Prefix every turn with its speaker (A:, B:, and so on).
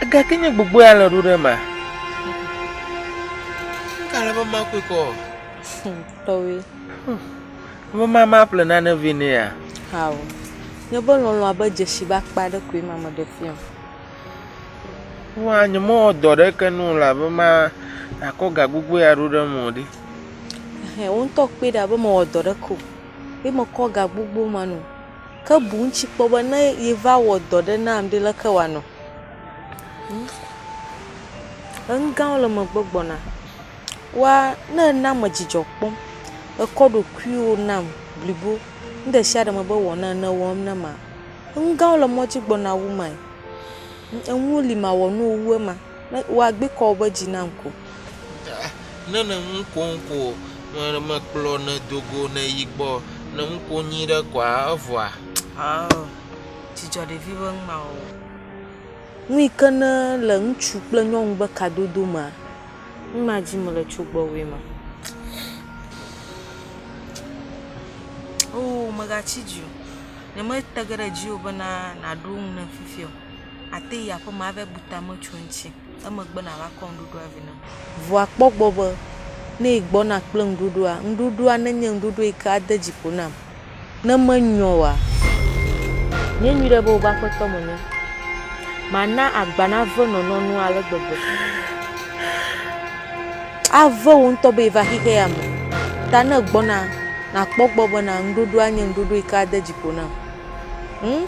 A: Egake nye gbogbo ya le ɖo ɖe ma. Kale be ma koe kɔ. Hmm, tɔwe. Hmm, be ma ma ƒle nane vɛ ne ya. Hao.
B: Nye be lɔlɔ abe dzesi ba kpa ɖe koe ma me ɖe fia. Wa
A: nye mo dɔ ɖe ke nu la be ma akɔ ga gbogbo ya ɖo ɖe mo ɖi. He, wo
B: ntɔ kpe ɖa be mo dɔ ɖe ko. Be mo kɔ ga gbogbo ma nu. ke boŋ tsi kpɔ be ne yeva wɔ dɔ ɖe nam ɖe leke wɔanɔ? Hm, enugãwo le megbe gbɔna. Wa ne èna me dzidzɔ kpɔm, èkɔ ɖokuiwò nam blibo nu ɖe sia ɖe me be wɔ nam ene ewɔm na ma, enugãwo le mɔ dzi gbɔna wu mae. Enuwo li mawɔ na wò wu ema. woagbekɔ woƒe dzi nam ko.
A: Ne ne nu kom ko mekplɔ ne do go ne yi gbɔ ne nu kom nyuie ɖe koa evɔa. Ɔɔ
B: dzidzɔ ɖevi be nu ma wɔwɔ. Nu yi ke ne le ŋutsu kple nyɔnu be kadodo mea nu ma dzi mele tso gbɔwòe ma. Oo megatsi dzi o. Ne me te ge ɖe dziwò bena naɖo nu nam fifia o. àte yi aƒe me ava bu ta me tso eŋuti. Emegbe nàva kɔ nuɖuɖua vɛ nam. Vɔa kpɔ egbɔ be, ne egbɔna kple nuɖuɖua, nuɖuɖua nenye nuɖuɖu yi ke ade dzi ƒo nam. Ne menyɔ oa, nyɛ nyuiɖe be wobe aƒetɔ menye. Mana agba nave nɔnɔnua ale gbegbe. Ave wò ŋutɔ be va xexea me. Ta ne egbɔna, nàkpɔ egbɔ bena nuɖuɖua nye nuɖuɖu yi ke ade dzi ƒo nam. Ŋ?